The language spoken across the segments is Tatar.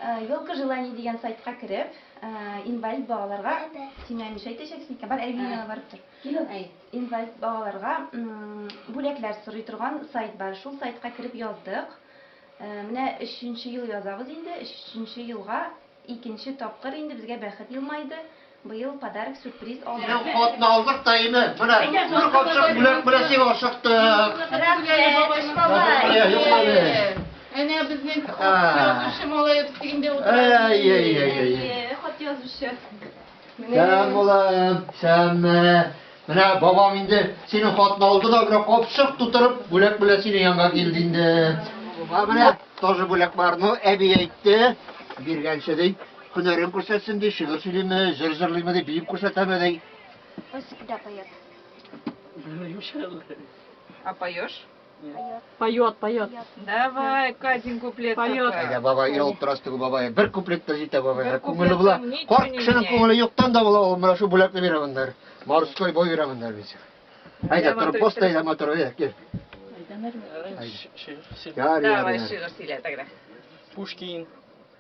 Елка желаний дигән сайтка кереп, инвалид балаларга, син миңа нишләй әйтәчәксең икән, бар әлеге янына барып тор. Инвалид балаларга бүләкләр сорый торган сайт бар. Шул сайтка кереп яздык. Менә өченче ел язабыз инде. Өченче елга икенче тапкыр инде безгә бәхет елмайды. Быел подарок сюрприз алдык. Ел хатны алдык та инде, менә бер капчык бүләк белән тик ашыктык. Рәхмәт, бабай, бабай. Әнә безнең хат язучы малаебыз инде утыра. Әйе, хат язучы. Сәлам булам, сәләмме. Менә бабам инде синең хатны алды да, менә капчык тутырып, бүләк белән синең янга килде инде. Бабам менә тоже бүләк бар. Ну, әби әйтте, биргәнче ди. Һөнәрен күрсәтсен ди, шигырь сөйлиме, җыр җырлыймы ди, биеп күрсәтәме ди. Он всегда поет. А поешь? Поет, поет. Давай, Катин куплет. Поет. Әйдә, бабай, ялып торас теге бабай. Бер куплет та җитә бабай. Бер Күңеле була. куплетның ничә Карт кешенең ничә? күңеле юктан да була. Ул менә шул бүләкне бирә моннар. Морской бой бирә моннар бит. Әйдә, Әйдә, тор, матур пост итеп. әйдә, матур, әйдә, кил. Әйдә, Мәрвә. Әйдә. Шигырь сөйлә. Ярый, Давай, ярый. шигырь сөйлә, тәгәрәк. Пушкин.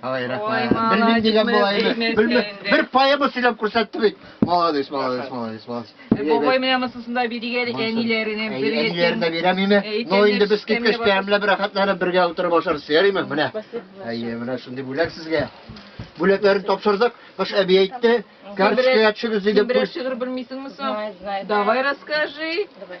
Ай, рәхмәт. Белмим дигән була инде. Белмим. Бер поэма сөйләп күрсәтте бит. Молодец, молодец, молодец, молодец. Бабай менә монсын да биригә әле әниләренә бер ятим. Әниләренә бирәм име? Ну инде без киткәч тәмләп рәхәтләнеп бергә утырып ашарыз. Ярыймы? Менә. Әйе, менә шундый бүләк сезгә. Бүләкләрен тапшырдык. Кыш әби әйтте, карточкага төшегез диде. Берәр шигырь белмисеңме соң? Давай расскажи. Давай.